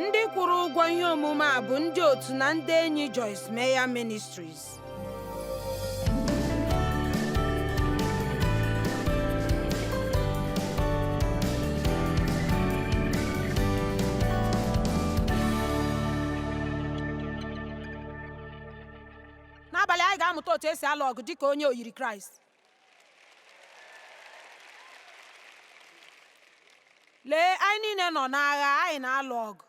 ndị kwụrụ ụgwọ ihe omume a bụ ndị otu na ndị enyi Joyce Meyer Ministries n'abalị anyị ga-amụta otu esi alụ ọgụ dịka onye oyiri kraịst lee anyị niile nọ n'agha anyị na-alụ ọgụ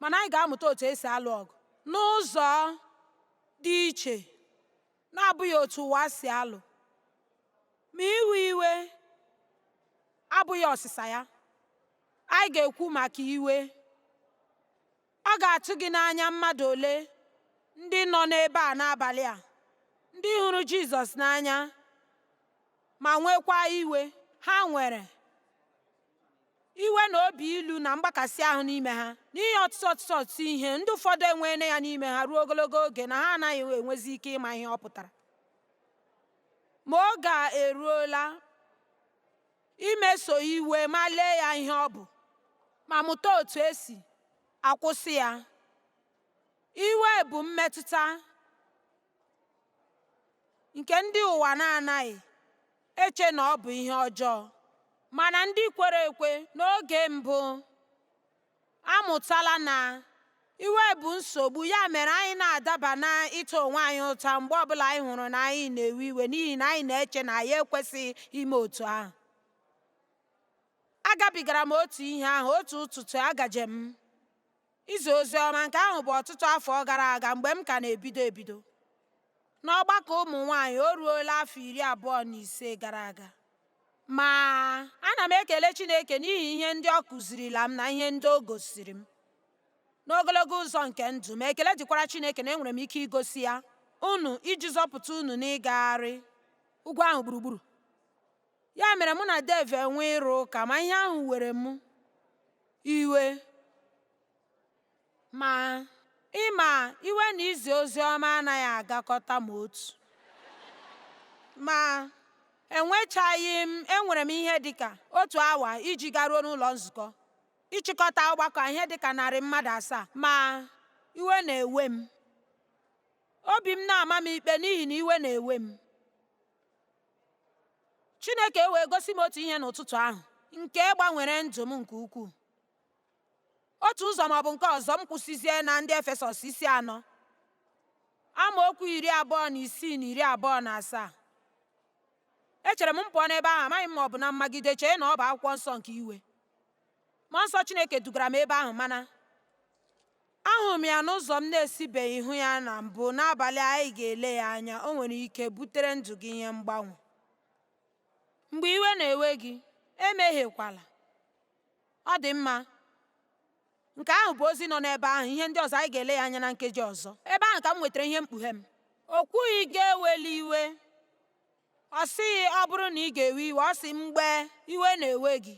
mana anyị ga-amụta otu esi alụ ọgụ n'ụzọ dị iche na-abụghị otu ụwa si alụ ma iwe iwe abụghị ọsịsa ya anyị ga-ekwu maka iwe Ọ ga-atụ gị n'anya mmadụ ole ndị nọ n'ebe a n'abalị a, ndị hụrụ Jizọs n'anya ma nwekwa iwe ha nwere iwe na obi ilu na mgbakasị ahụ n'ime ha n'ihi ọtụtụ ọtụtụ ọtụtụ ihe ndị ụfọdụ enweela ya n'ime ha ruo ogologo oge na ha anaghị enwezi ike ịma ihe ọ pụtara ma oge eruola imeso iwe ma lee ya ihe ọ bụ ma mụta otu esi akwụsị ya. Iwe bụ mmetụta nke ndị ụwa na-anaghị eche na ọ bụ ihe ọjọọ mana ndị kwere ekwe n'oge mbụ amụtala na iwe bụ nsogbu ya mere anyị na-adaba na ịta onwe anyị ụta mgbe ọbụla anyị hụrụ na anyị na-ewe iwe n'ihi na anyị na-eche na anyị ekwesịghị ime otu ahụ agabigara m otu ihe ahụ otu ụtụtụ agaje m izi ozi ọma nke ahụ bụ ọtụtụ afọ gara aga mgbe m ka na-ebido ebido n'ọgbakọ ụmụ nwanyị o ruola afọ iri abụọ na ise gara aga Ma, ana m ekele Chineke n'ihi ihe ndị ọ kụzirila m na ihe ndị o gosiri m n'ogologo ụzọ nke ndụ m, ekele dịkwara Chineke na enwere m ike igosi ya unu iji zọpụta unu n'ịgagharị ugwu ahụ gburugburu. Ya mere mụ na Dave enwe ịrụ ụka, ma ihe ahụ were m iwe Ma, ị ma, iwe na izi ozi ọma anaghị agakọta ma otu. Ma, enwechaghị m enwere m ihe dị ka otu awa iji garuo n'ụlọ nzukọ ịchịkọta ọgbakọ ihe dị ka narị mmadụ asaa, ma iwe na-ewe m. Obi m na-ama m ikpe n'ihi na iwe na-ewe m. Chineke wee gosi m otu ihe n'ụtụtụ ahụ nke gbanwere ndụ m nke ukwuu. otu ụzọ ma ọ bụ nke ọzọ m kwụsịzie na ndị efesọs isi anọ amaokwu iri abụọ na isii na iri abụọ na asaa echere m m pụọ n'ebe ahụ amaghị m ma ọ bụ na mmagide chee na ọ bụ akwụkwọ nsọ nke iwe mmụọ nsọ chineke dugara m ebe ahụ mana ahụrụ m ya n'ụzọ m na-esibeghị hụ ya na mbụ n'abalị anyị ga-ele ya anya o nwere ike butere ndụ gị ihe mgbanwe mgbe iwe na-ewe gị emehiekwala Ọ dị mma. Nke ahụ bụ ozi nọ n'ebe ahụ, ihe ndị ọzọ anyị ga-ele ya anya na nkeji ọzọ. Ebe ahụ ka m nwetara ihe mkpughe m. O kwughị gị ewela iwe. Ọ sịghị ọ bụrụ na ị ga-ewe iwe, ọ sị mgbe iwe na-ewe gị.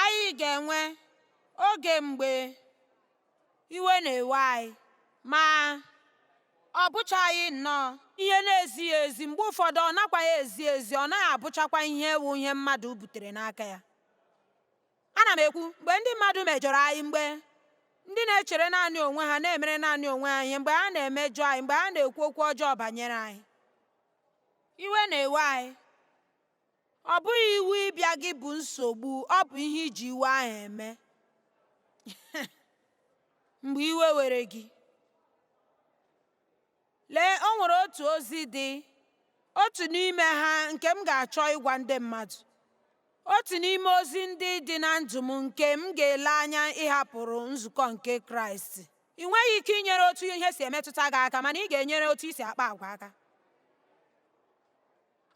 Anyị ga-enwe oge mgbe Iwe na-ewe anyị, ma ọ bụchaghị nnọọ ihe na-ezighị ezi, mgbe ụfọdụ ọ nakwaghị ezi ezi, ọ naghị abụchakwa ihe wụ ihe mmadụ butere n'aka ya. Ana m ekwu mgbe ndị mmadụ mejọrọ anyị, mgbe ndị na-echere naanị onwe ha na-emere naanị onwe ha ihe, mgbe ha na-emejọ anyị, mgbe ha na-ekwu okwu ọjọọ banyere anyị. Iwe na-ewe anyị. Ọ bụghị iwe ịbịa gị bụ nsogbu, ọ bụ ihe i ji iwe ahụ eme. Mgbe iwe were gị, lee o nwere otu ozi dị otu n'ime ha nke m ga-achọ ịgwa ndị mmadụ otu n'ime ozi ndị dị na ndụ m nke m ga-ele anya ịhapụrụ nzukọ nke kraịst i nweghị ike inyere otu ihe si emetụta gị aka mana ị ga-enyere otu i si akpa agwa aka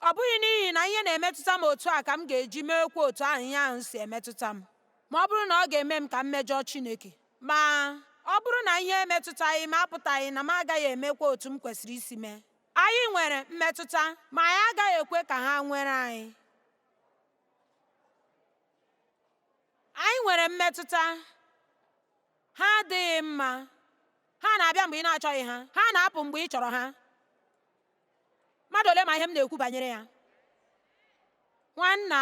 Ọ bụghị n'ihi na ihe na-emetụta m otu a ka m ga-eji meekwa otu ahụ ihe ahụ si emetụta m ma ọ bụrụ na ọ ga-eme m ka m mejọọ Chineke. Ma, ọ bụrụ na ihe emetụtaghị m apụtaghị na m agaghị emekwa otu m kwesịrị isi mee. Anyị nwere mmetụta, ma anyị agaghị ekwe ka ha nwere anyị. Anyị nwere mmetụta, ha adịghị mma. Ha na-abịa mgbe ị na-achọghị ha, ha na-apụ mgbe ị chọrọ ha. mmadụ ole ma ihe m na-ekwu banyere ya nwanna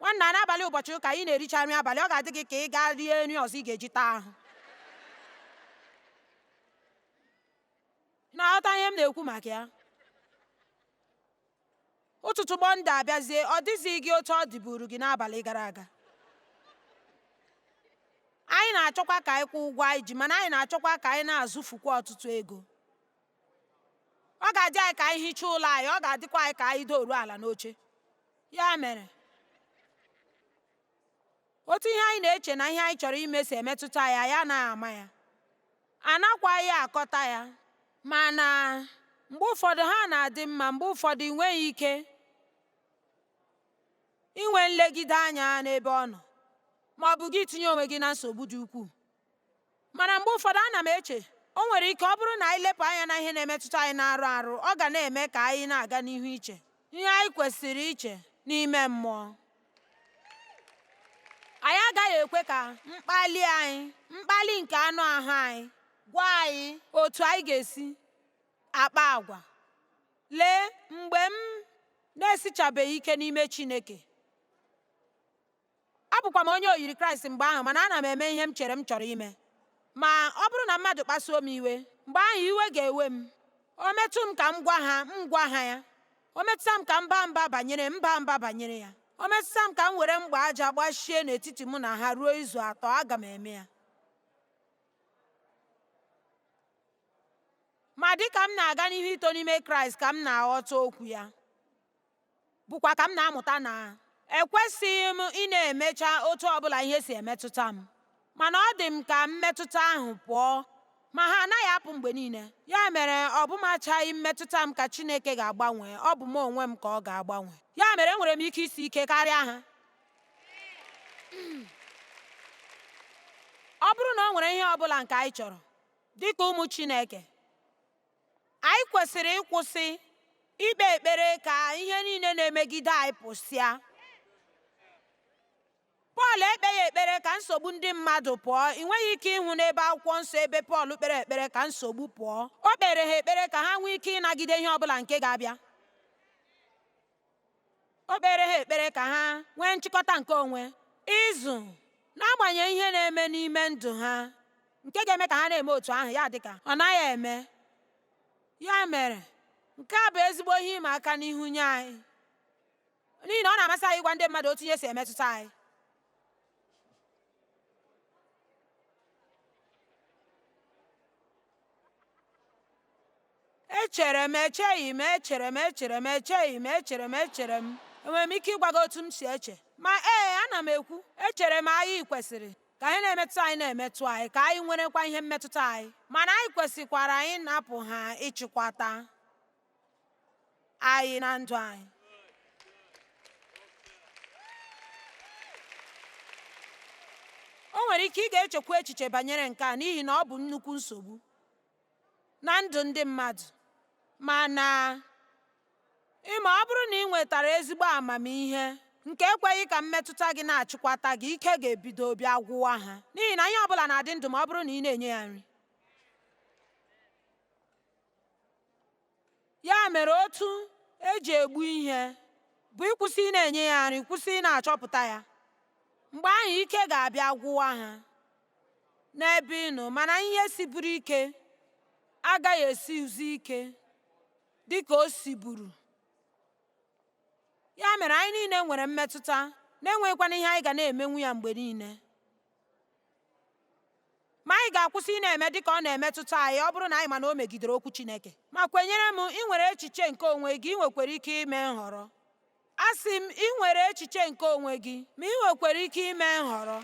nwanna n'abalị ụbọchị ụka ị na-ericha nri abalị ọ ga-adị gị ka ị gaa rie nri ọzọ ị ga-eji taa ahụ na-aghọta ihe m na-ekwu maka ya ụtụtụ mọnde abịazie ọ dịzighị gị otu ọ dịburu gị n'abalị gara aga anyị na-achọkwa ka anyị kwụọ ụgwọ anyị ji mana anyị na-achọkwa ka anyị na-azụfukwa ọtụtụ ego ọ ga-adị anyị ka anyị hichaa ụlọ anyị ọ ga-adịkwa anyị ka anyị doruo ala n'oche ya mere otu ihe anyị na-eche na ihe anyị chọrọ ime si emetụta anyị anaghị ama ya anakwaghị akọta ya mana mgbe ụfọdụ ha na-adị mma mgbe ụfọdụ ị nweghị ike inwe nlegide anya n'ebe ọ nọ ma ọ bụ gị tinye onwe gị na nsogbu dị ukwuu Mana mgbe ụfọdụ ana m eche, o nwere ike ọ bụrụ na anyị lepụ anya na ihe na-emetụta anyị n'anụ arụ, ọ ga na-eme ka anyị na-aga n'ihu iche ihe anyị kwesịrị iche n'ime mmụọ. Anyị agaghị ekwe ka mkpali anyị, mkpali nke anụ ahụ anyị, gwa anyị otu anyị ga-esi akpa agwa. Lee, mgbe m na-esichabeghị ike n'ime Chineke, Abụkwa m onye oyiri Kraịst mgbe ahụ, mana ana m eme ihe m chere m chọrọ ime. Ma, ọ bụrụ na mmadụ kpasuo m iwe, mgbe ahụ iwe ga-ewe m. O metụ m ka m gwa ha, m gwa ha ya. O metụta m ka m baa mba banyere, m baa mba banyere ya. O metụta m ka m were mgba aja gbachie n'etiti mụ na ha ruo izu atọ, aga m eme ya. Ma dị ka m na-aga n'ihu ito n'ime Kraịst ka m na-aghọta okwu ya. bụkwa ka m na-amụta na ekwesịghị m ịna-emecha otu ọbụla ihe si emetụta m mana ọ dị m ka mmetụta ahụ pụọ ma ha anaghị apụ mgbe niile ya mere ọ bụchaghị mmetụta m ka Chineke ga-agbanwe ọ bụ m onwe m ka ọ ga-agbanwe ya mere enwere m ike isi ike karịa ha ọ bụrụ na o nwere ihe ọbụla nke anyị chọrọ dịka ụmụ Chineke Anyị kwesịrị ịkwụsị ikpe ekpere ka ihe niile na-emegide anyị pụsịa. Pọl ekpeghị ekpere ka nsogbu ndị mmadụ pụọ. Ị nweghị ike ịhụ n'ebe akwụkwọ nsọ ebe Pọl kpere ekpere ka nsogbu pụọ. O kpere ha ekpere ka ha nwee ike ịnagide ihe ọ bụla nke ga-abịa. O kpere ha ekpere ka ha nwee nchịkọta nke onwe, ịzụ, n'agbanyeghị ihe na-eme n'ime ndụ ha nke ga-eme ka ha na-eme otu ahụ ya dịka ọ naghị eme. Ya mere, nke a bụ ezigbo ihe ịma aka n'ihu nye anyị n'ihi na ọ na-amasị anyị ịgwa ndị mmadụ otu ihe si emetụta anyị. echere m echeghị m echere m echere m echeghị m echere m echere m enwere m ike ịgwa gị otu m si eche ma ee ana m ekwu echere m anyị kwesịrị ka ihe na-emetụ anyị na-emetụ anyị ka anyị nwerekwa ihe mmetụta anyị mana anyị kwesịkwara anyị napụ ha ịchịkwata anyị na ndụ anyị o nwere ike ị ga-echekwa echiche banyere nke a n'ihi na ọ bụ nnukwu nsogbu na ndụ ndị mmadụ mana ịma ọ bụrụ na ị nwetara ezigbo amamihe nke ekweghị ka mmetụta gị na-achịkwata gị ike ga-ebido bịa gwụwa ha n'ihi na ihe ọ bụla na-adị ndụ ma ọ bụrụ na ị na-enye ya nri ya mere otu eji egbu ihe bụ ịkwụsị ị na-enye ya nri kwụsị ị na-achọpụta ya mgbe ahụ ike ga-abịa gwụwa ha n'ebe ị nọ mana ihe siburu ike agaghị esizi ike dịka o siburu ya mere anyị niile nwere mmetụta na-enweghịkwana ihe anyị ga na-emenwu ya mgbe niile ma anyị ga-akwụsị ị na-eme dị ka ọ na-emetụta anyị ọ bụrụ na anyị ma na o megidere okwu Chineke ma kwenyere m ị nwere echiche nke onwe gị ị nwekwara ike ime nhọrọ asị m ị nwere echiche nke onwe gị ma ị nwekwara ike ime nhọrọ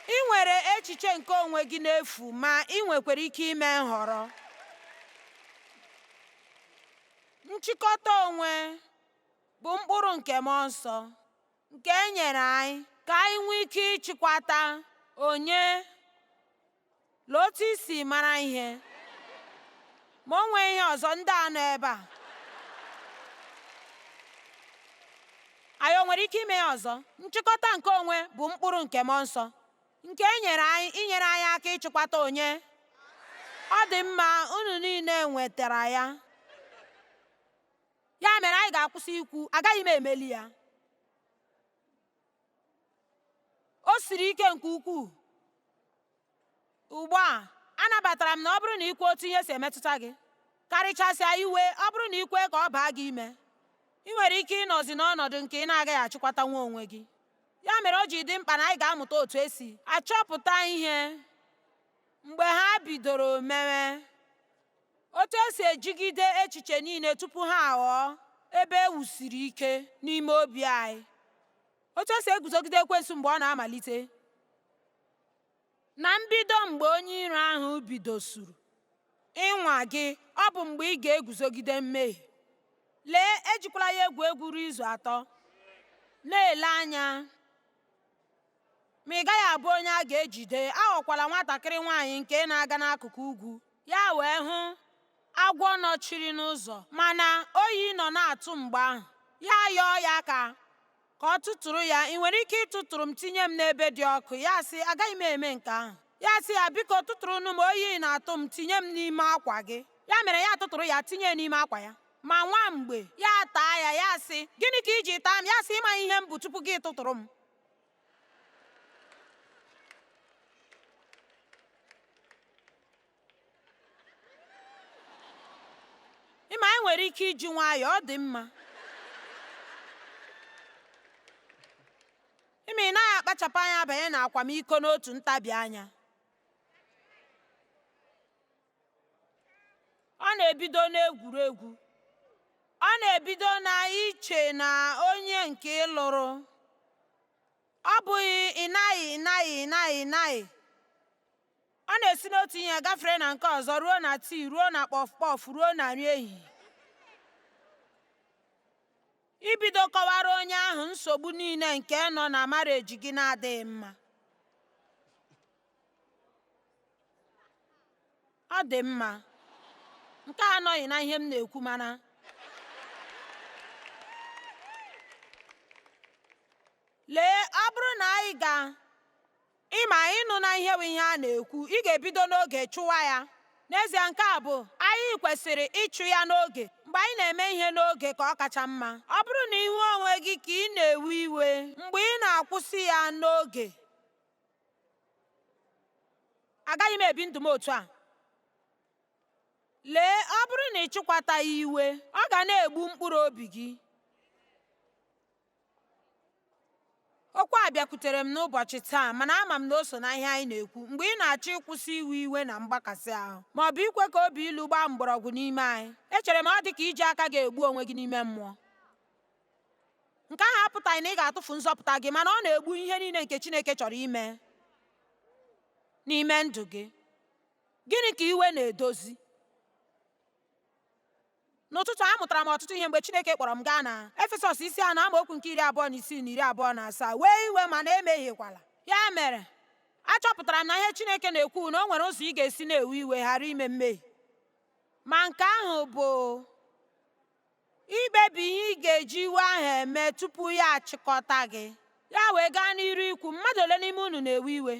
ị nwere echiche nke onwe gị n'efu ma ị nwekwara ike ime nhọrọ nchịkọta onwe bụ mkpụrụ nke mmụọ nsọ nke e nyere anyị ka anyị nwee ike ịchịkwata onye na otu isi mara ihe ma o nwee ihe ọzọ ndị a nọ ebe a anyị o nwere ike ime ya ọzọ nchịkọta nke onwe bụ mkpụrụ nke mmụọ nsọ nke e nyere anyị inyere anyị aka ịchịkwata onye ọ dị mma unu niile nwetara ya ya mere anyị ga-akwụsị ikwu agaghị m emeli ya o siri ike nke ukwuu ugbu a anabatara m na ọ bụrụ na ikwe otu ihe si emetụta gị karịchasịa iwe ọ bụrụ na ikwe ka ọ baa gị ime ị nwere ike ịnọzi n'ọnọdụ nke ị na-agaghị achịkwatanwu onwe gị ya mere o ji dị mkpa na anyị ga-amụta otu esi achọpụta ihe mgbe ha bidoro mewe Otu e si ejigide echiche niile tupu ha aghọọ ebe e wusiri ike n'ime obi anyị. Otu e si eguzogide ekwensu mgbe ọ na-amalite. Na mbido mgbe onye iro ahụ bidosuru ịnwa gị, ọ bụ mgbe ị ga-eguzogide mmehie. Lee, ejikwala ya egwu egwu ruo izu atọ. Na-ele anya. Ma ị gaghị abụ onye a ga-ejide, aghọkwala nwatakịrị nwaanyị nke na-aga n'akụkụ ugwu. Ya wee hụ agwọ nọchiri n'ụzọ, mana oyi nọ na-atụ mgbe ahụ. Ya ayọọ ya ka ka ọ tụtụrụ ya, ị nwere ike ịtụtụrụ m tinye m n'ebe dị ọkụ? Ya sị, agaghị m eme nke ahụ. Ya sị ya, biko tụtụrụnụ m, oyi na-atụ m, tinye m n'ime akwa gị. Ya mere ya atụtụrụ ya tinye n'ime akwa ya. Ma nwa mgbe ya ataa ya, ya sị, gịnị ka i ji taa m? Ya sị, ị maghị ihe m bụ tupu gị atụtụrụ m. ị ma anyị nwere ike iji nwayọọ ọ dị mma ị ma ị naghị akpachapụ anya banye na akwamiko n'otu ntabi anya ọ na-ebido n'egwuregwu ọ na-ebido na iche na onye nke ị lụrụ ọ bụghị ị naghị ị naghị ị naghị ị naghị ọ na-esi n'otu ihe gafere na nke ọzọ ruo na tii ruo na kpọf kpọf ruo na nri ehihie i bido kọwara onye ahụ nsogbu niile nke nọ na marriage gị na-adịghị mma ọ dị mma nke a anọghị na ihe m na-ekwu mana lee ọ bụrụ na anyị ga ị ma ịnụ na ihe bụ ihe a na-ekwu ị ga-ebido n'oge chụwa ya n'ezie nke a bụ anyị kwesịrị ịchụ ya n'oge mgbe anyị na-eme ihe n'oge ka ọ kacha mma ọ bụrụ na ị hụ onwe gị ka ị na-ewe iwe mgbe ị na-akwụsị ya n'oge agaghị m ebi ndụ m otu a lee ọ bụrụ na ị chịkwataghị iwe ọ ga na-egbu mkpụrụ obi gị okwu a bịakwutere m n'ụbọchị taa mana ama m na o so na ihe anyị na-ekwu mgbe ị na-achọghị ịkwụsị iwe iwe na mgbakasị ahụ ma ọ bụ ikwe ka obi ilu gbaa mgbọrọgwụ n'ime anyị echere m ọ dị ka iji aka gị egbu onwe gị n'ime mmụọ nke ahụ apụtaghị na ị ga-atụfu nzọpụta gị mana ọ na-egbu ihe niile nke Chineke chọrọ ime n'ime ndụ gị gịnị ka iwe na-edozi n'ụtụtụ a amụtara m ọtụtụ ihe mgbe Chineke kpọrọ m gaa na Efesọs isi anọ amaokwu nke iri abụọ na isii na iri abụọ na asaa wee iwe mana emehiekwala ya mere achọpụtara m na ihe Chineke na-ekwu na o nwere ụzọ ị ga-esi na-ewe iwe ghara ime mmehie ma nke ahụ bụ Ikpebi ihe ị ga-eji iwe ahụ eme tupu ya achịkọta gị. Ya wee gaa n'iru ikwu, Mmadụ ole n'ime unu na-ewe iwe?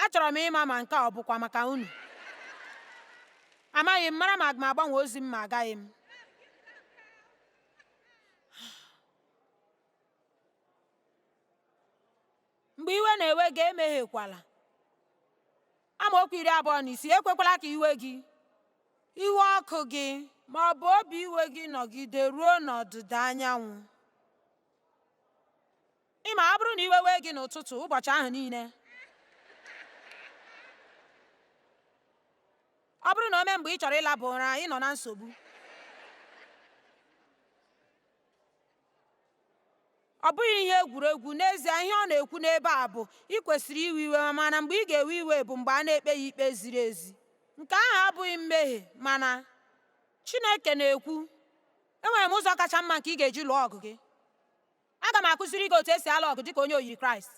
Achọrọ m ịma ma nke a ọ bụkwa maka unu. Amaghị m, mara ma aga m agbanwe ozi m ma agaghị m. Mgbe iwe na-ewe gị, emehiekwala. Amaokwu iri abụọ na isii ekwekwala ka iwe gị, iwe ọkụ gị ma ọ bụ obi iwe gị nọgide ruo n'ọdịda anyanwụ. Ị ma ọ bụrụ na iwe wee gị n'ụtụtụ ụbọchị ahụ niile ọ bụrụ na o mee mgbe ị chọrọ ịlaba ụra ị nọ na nsogbu ọ bụghị ihe egwuregwu n'ezie ihe ọ na-ekwu n'ebe a bụ ị kwesịrị iwe iwe mana mgbe ị ga-ewe iwe bụ mgbe a na-ekpe ya ikpe ziri ezi nke ahụ abụghị mmehie mana Chineke na-ekwu enwere m ụzọ kacha mma nke ị ga-eji lụọ ọgụ gị aga m akụziri gị otu esi alụ ọgụ dịka onye oyiri Kraịst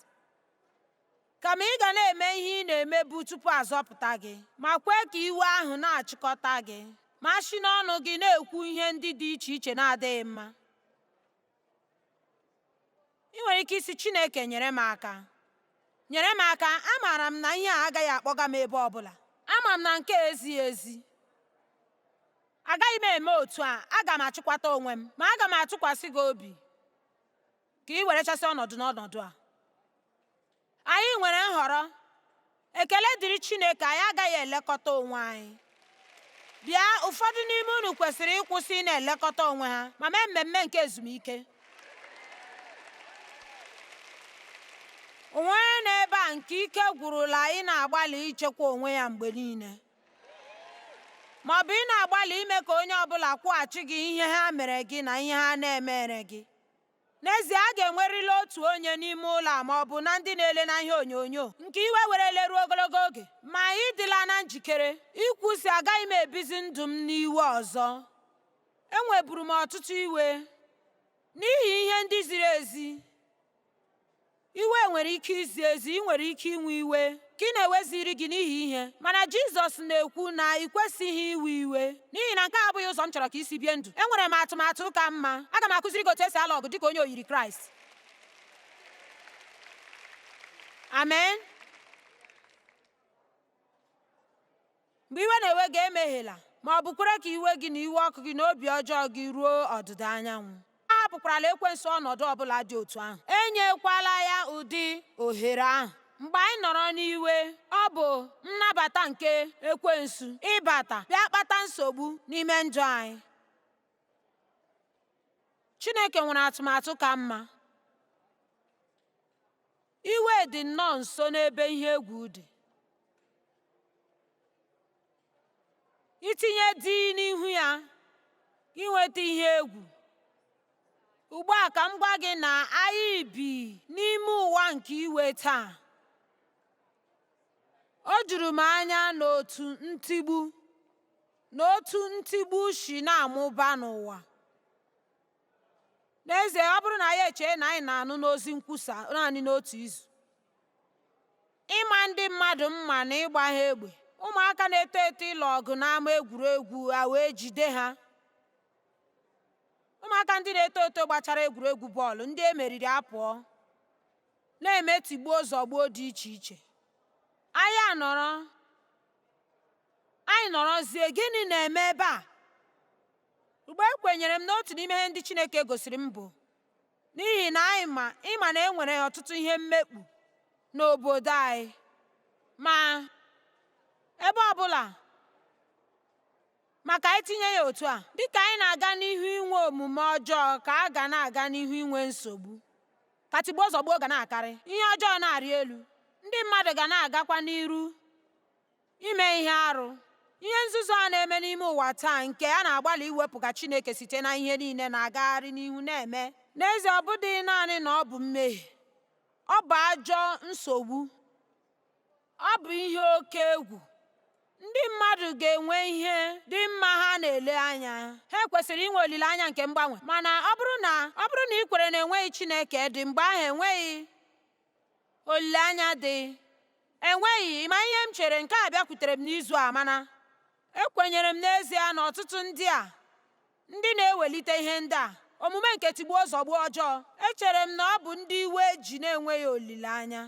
kama ị ga na-eme ihe ị na-emebu tupu a zọpụta gị ma kwee ka iwe ahụ na-achịkọta gị ma si n'ọnụ gị na-ekwu ihe ndị dị iche iche na-adịghị mma ị nwere ike ịsị Chineke nyere m aka nyere m aka amaara m na ihe a agaghị akpọga m ebe ọbụla ama m na nke a ezighị ezi agaghị m eme otu a aga m achịkwata onwe m ma aga m atụkwasị gị obi ka ị werechasị ọnọdụ n'ọnọdụ a anyị nwere nhọrọ ekele dịrị Chineke anyị agaghị elekọta onwe anyị bịa ụfọdụ n'ime unu kwesịrị ịkwụsị ị na-elekọta onwe ha ma mee mmemme nke ezumike o nwere onye nọ ebe a nke ike gwụrụla ị na-agbalị ichekwa onwe ya mgbe niile ma ọ bụ ị na-agbalị ime ka onye ọ bụla kwụghachi gị ihe ha mere gị na ihe ha na-emere gị N'ezie, a ga-enwerịrị otu onye n'ime ụlọ a ma ọ bụ na ndị na-ele na ihe onyonyo nke iwe werele ruo ogologo oge. Ma ị dịla na njikere ikwu, sị Agaghị m ebizi ndụ m n'iwe ọzọ. Enweburu m ọtụtụ iwe n'ihi ihe ndị ziri ezi. Iwe nwere ike izi ezi, i nwere ike inwe iwe ka ị na-eweziri gị n'ihi ihe. Mana Jizọs na-ekwu na i kwesịghị iwe iwe n'ihi na nke a abụghị ụzọ m chọrọ ka i si bie ndụ. Enwere m atụmatụ ka mma. Aga m akụziri gị otu esi alụ ọgụ dị ka onye oyiri Kraịst. Amen. Mgbe iwe na-ewe gị emehiela, ma ọ bụ kwere ka iwe gị na iwe ọkụ gị na obi ọjọọ gị ruo ọdịda anyanwụ. Ahapụkwarala ekwensu ọnọdụ ọ bụla dị otu ahụ. Enyekwala ya ụdị ohere ahụ. Mgbe anyị nọrọ n'iwe, ọ bụ nnabata nke ekwensu ịbata bịa kpata nsogbu n'ime ndụ anyị. Chineke nwere atụmatụ ka mma. Iwe dị nnọọ nso n'ebe ihe egwu dị. I tinye D n'ihu ya i nweta ihe egwu. Ugbu a ka m gwa gị na anyị bi n'ime ụwa nke iwe taa. O juru m anya n'otu ntigbu na otu ntigbu si na-amụba n'ụwa. n'ezie ọ bụrụ na anyị echee na anyị na-anụ n'ozi nkwusa naanị n'otu izu ịma ndị mmadụ mma na ịgba ha egbe ụmụaka na-eto eto ịlụ ọgụ n'ama egwuregwu a wee jide ha ụmụaka ndị na-eto eto gbachara egwuregwu bọọlụ ndị e meriri apụọ na-eme tigbuo zọgbuo dị iche iche anyị anọrọ anyị nọrọzie gịnị na-eme ebe a Ugbu a ekwenyere m na otu n'ime ihe ndị Chineke gosiri m bụ n'ihi na anyị ma ị ma na e nwere ọtụtụ ihe mmekpu n'obodo anyị ma ebe ọbụla ma ka anyị tinye ya otu a dịka anyị na-aga n'ihu inwe omume ọjọọ ka a ga na-aga n'ihu inwe nsogbu ka tigbuo zọgbuo ga na-akarị ihe ọjọọ na-arị elu ndị mmadụ ga na-agakwa n'iru Ime ihe arụ. Ihe nzuzu a na-eme n'ime ụwa taa nke a na-agbalị iwepụga Chineke site na ihe niile na-agagharị n'ihu na-eme. N'ezie, ọ bụdịghị naanị na ọ bụ mmehie, ọ bụ ajọ nsogbu, ọ bụ ihe oke egwu. Ndị mmadụ ga-enwe ihe dị mma ha na-ele anya. Ha kwesịrị inwe olileanya nke mgbanwe. Mana ọ bụrụ na ị kwere na enweghị Chineke dị, mgbe ahụ enweghị Olileanya dị. Enweghị, ị ma ihe m chere, nke a bịakwutere m n'izu a, mana ekwenyere m n'ezie na ọtụtụ ndị a, ndị na-ewelite ihe ndị a, omume nke tigbuo zọgbuo ọjọọ, echere m na ọ bụ ndị iwe ji na-enweghị olileanya.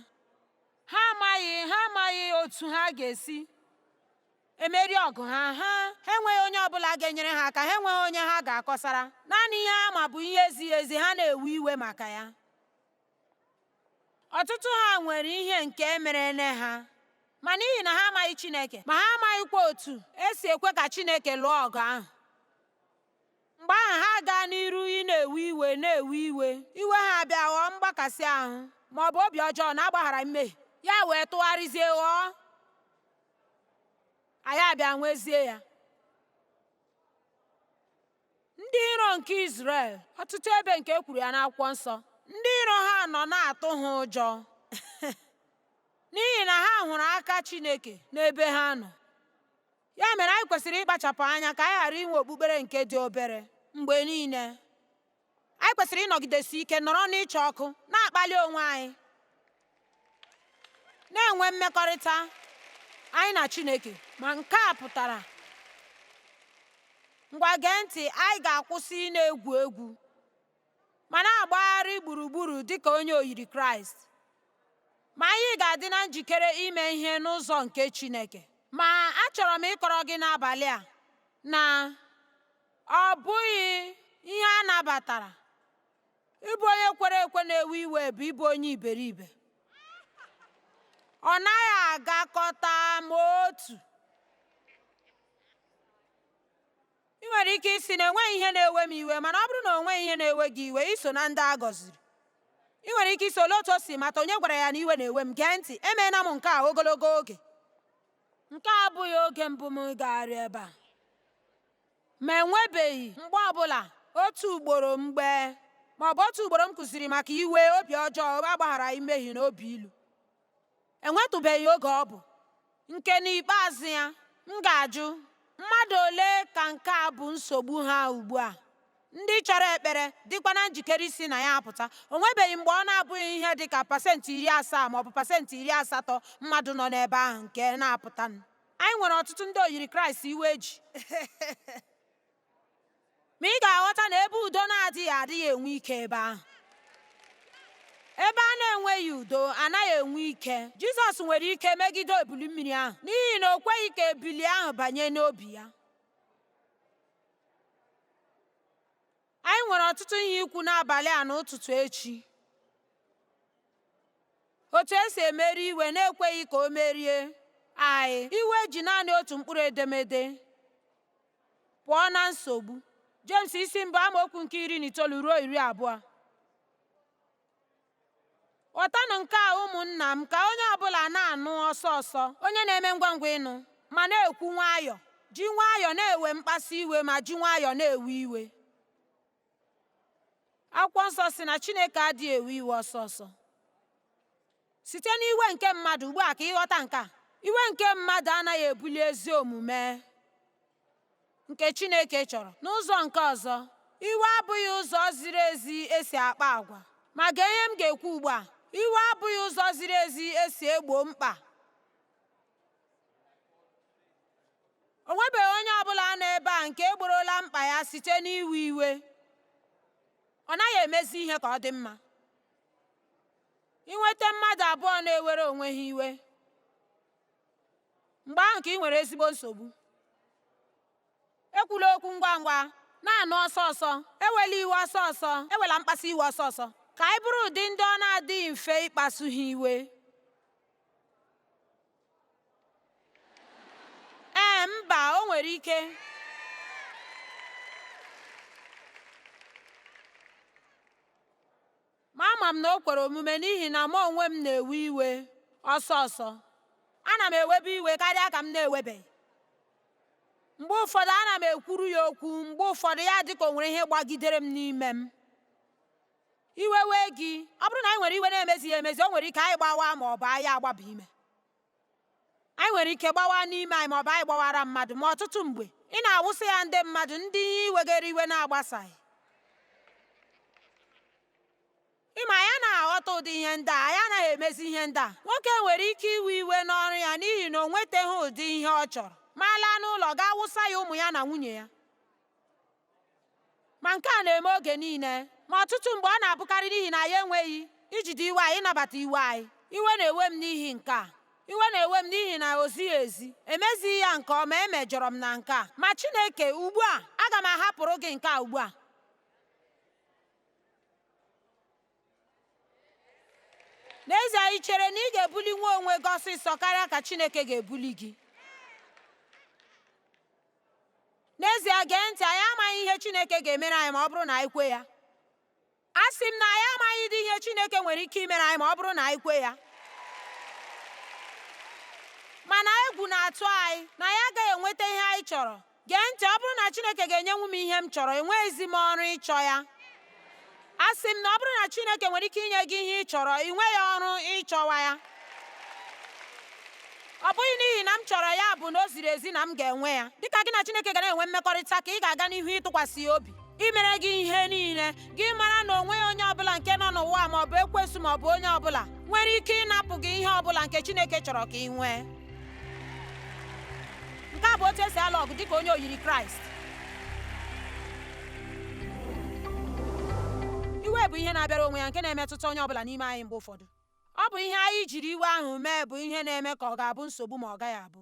Ha amaghị, ha amaghị otu ha ga-esi emeri ọgụ ha, ha enweghị onye ọbụla ga-enyere ha aka, ha enweghị onye ha ga-akọsara. Naanị ihe ha ma bụ ihe ezighị ezi, ha na-ewe iwe maka ya. ọtụtụ ha nwere ihe nke e merenụ ha ma n'ihi na ha amaghị Chineke ma ha amaghịkwa otu esi ekwe ka Chineke lụọ ọgụ ahụ mgbe ahụ ha gaa n'iru ị na-ewe iwe na-ewe iwe iwe ha abịa ghọọ mgbakasị ahụ ma ọ bụ obi ọjọọ na agbaghara mmehie ya wee tụgharịzie ghọọ anyị abịa nwezie ya Ndị iro nke Izrel, ọtụtụ ebe nke e kwuru ya n'akwụkwọ nsọ, ndị iro ha nọ na-atụ ha ụjọ n'ihi na ha hụrụ aka Chineke n'ebe ha nọ. Ya mere anyị kwesịrị ịkpachapụ anya ka anyị ghara inwe okpukpere nke dị obere mgbe niile. Anyị kwesịrị ịnọgidesi ike nọrọ n'ịcha ọkụ na-akpali onwe anyị na-enwe mmekọrịta anyị na Chineke ma nke a pụtara ngwa gee ntị anyị ga-akwụsị ị na-egwu egwu ma na-agbagharị gburugburu dị ka onye oyiri Kraịst ma anyị ga-adị na njikere ime ihe n'ụzọ nke Chineke ma achọrọ m ịkọrọ gị n'abalị a na ọ bụghị ihe a nabatara ịbụ onye kwere ekwe na-ewe iwe bụ ịbụ onye iberibe ọ naghị agakọta ma otu i nwere ike ịsị na enweghị ihe na-ewe m iwe mana ọ bụrụ na o nweghị ihe na-ewe gị iwe i so na ndị a gọziri i nwere ike ịsị olee otu o si mata onye gwara ya na iwe na-ewe m gee ntị emeela m nke a ogologo oge nke a abụghị oge mbụ m gagharị ebe a Ma e nwebeghị mgbe ọ bụla, otu ugboro mgbe ma ọ bụ otu ugboro m kụziri maka iwe, obi ọjọọ, obi agbagharaghị mmehie, na obi ilu. E nwetụbeghị oge ọ bụ nke n'ikpeazụ ya m ga-ajụ, Mmadụ ole ka nke a bụ nsogbu ha ugbu a, ndị chọrọ ekpere, dịkwa na njikere isi na ya apụta? O nwebeghị mgbe ọ na-abụghị ihe dị ka pasent iri asaa ma ọ bụ pasent iri asatọ mmadụ nọ n'ebe ahụ nke na-apụtanụ. Anyị nwere ọtụtụ ndị oyiri Kraịst iwe ji. Ma ị ga-aghọta na ebe udo na-adịghị adịghị enwe ike ebe ahụ. Ebe a na-enweghị udo anaghị enwe ike. Jizọs nwere ike megide ebili mmiri ahụ n'ihi na o kweghị ka ebili ahụ banye n'obi ya. Anyị nwere ọtụtụ ihe ikwu n'abalị a na ụtụtụ echi. Otu esi emeri iwe na-ekweghị ka o merie anyị. Iwe ji naanị otu mkpụrụ edemede pụọ na nsogbu. Jems isi mbụ amaokwu nke iri na itoolu ruo iri abụọ. Ghọtanụ nke a ụmụnna m ka onye ọbụla na-anụ ọsọ ọsọ, onye na-eme ngwa ngwa ịnụ, ma na-ekwu nwayọọ, ji nwayọọ na-ewe mkpasu iwe ma ji nwayọọ na-ewe iwe. Akwụkwọ nsọ sị na Chineke adịghị ewe iwe ọsọ ọsọ. Site n'iwe nke mmadụ ugbu a ka ị ghọta nke a, iwe nke mmadụ anaghị ebuli ezi omume. nke Chineke chọrọ. N'ụzọ nke ọzọ, iwe abụghị ụzọ ziri ezi e si akpa agwa. Ma gee ihe m ga-ekwu ugbu a, iwe abụghị ụzọ ziri ezi e si egbo mkpa. O nwebeghị onye ọ bụla nọ ebe a nke egborola mkpa ya site n'iwe iwe. Ọ naghị emezi ihe ka ọ dị mma. I nweta mmadụ abụọ na-ewere onwe ha iwe mgbe ahụ ka ị nwere ezigbo nsogbu ekwula okwu ngwa ngwa na-anụ ọsọ ọsọ ewela iwe ọsọ ọsọ ewela mkpasu iwe ọsọ ọsọ ka anyị bụrụ ụdị ndị ọ na-adịghị mfe ịkpasu ha iwe ee mba o nwere ike Ma ama m na o kwere omume n'ihi na mụ onwe m na-ewe iwe ọsọ ọsọ. Ana m ewebu iwe karịa ka m na-ewebeghị. Mgbe ụfọdụ ana m ekwuru ya okwu, mgbe ụfọdụ ya dị ka o nwere ihe gbagidere m n'ime m. Iwe wee gị, ọ bụrụ na anyị nwere iwe na-emezighị emezi, o nwere ike anyị gbawaa ma ọ bụ anyị agbaba ime. anyị nwere ike gbawa n'ime anyị maọbụ anyị gbawara mmadụ ma ọtụtụ mgbe ị na-awụsị ya ndị mmadụ ndị ihe i wegara iwe na-agbasaghị ị ma anyị anaghị aghọta ụdị ihe ndị a anyị anaghị emezi ihe ndị a nwoke nwere ike iwe iwe n'ọrụ ya n'ihi na o nwetaghị ụdị ihe ọ chọrọ ma laa n'ụlọ gaa wụsa ya ụmụ ya na nwunye ya ma nke a na-eme oge niile ma ọtụtụ mgbe ọ na-abụkarị n'ihi na anyị enweghị ijide iwe anyị ịnabata iwe anyị iwe na-ewe m n'ihi nke a iwe na-ewe m n'ihi na o zighị ezi emezighị ya nke ọma emejọrọ m na nke a ma Chineke ugbu a aga m ahapụrụ gị nke a ugbu a n'ezie i chere na ị ga-ebulinwu onwe gị ọsịsọ karịa ka Chineke ga-ebuli gị N'ezie, gee ntị, anyị amaghị ihe Chineke ga-emere anyị ma ọ bụrụ na anyị kwe ya. Asị m na anyị amaghịdị ihe Chineke nwere ike imere anyị ma ọ bụrụ na anyị kwe ya. Mana egwu na-atụ anyị na anyị agaghị enweta ihe anyị chọrọ. Gee ntị, ọ bụrụ na Chineke ga-enyenwu m ihe m chọrọ, enweghịzi m ọrụ ịchọ ya. A sị m na ọ bụrụ na Chineke nwere ike inye gị ihe ị chọrọ, ị nweghị ọrụ ịchọwa ya. Ọ bụghị n'ihi na m chọrọ ya bụ na o ziri ezi na m ga-enwe ya. Dịka gị na Chineke ga na-enwe mmekọrịta ka ị ga-aga n'ihu ịtụkwasị ya obi imere gị ihe niile, gị mara na o nweghị onye ọbụla nke nọ n'ụwa ma ọ bụ ekwensu ma ọ bụ onye ọbụla nwere ike ịnapụ gị ihe ọbụla nke Chineke chọrọ ka ị nwee. nke a bụ otu esi alụ ọgụ dịka onye oyiri kraịst iwe bụ ihe na-abịara onwe ya nke na-emetụta onye ọbụla n'ime anyị mgbe ụfọdụ ọ bụ ihe anyị jiri iwe ahụ mee bụ ihe na-eme ka ọ ga-abụ nsogbu ma ọ gaghị abụ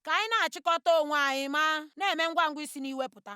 ka anyị na-achịkọta onwe anyị ma na-eme ngwa ngwa isi n'iwe pụta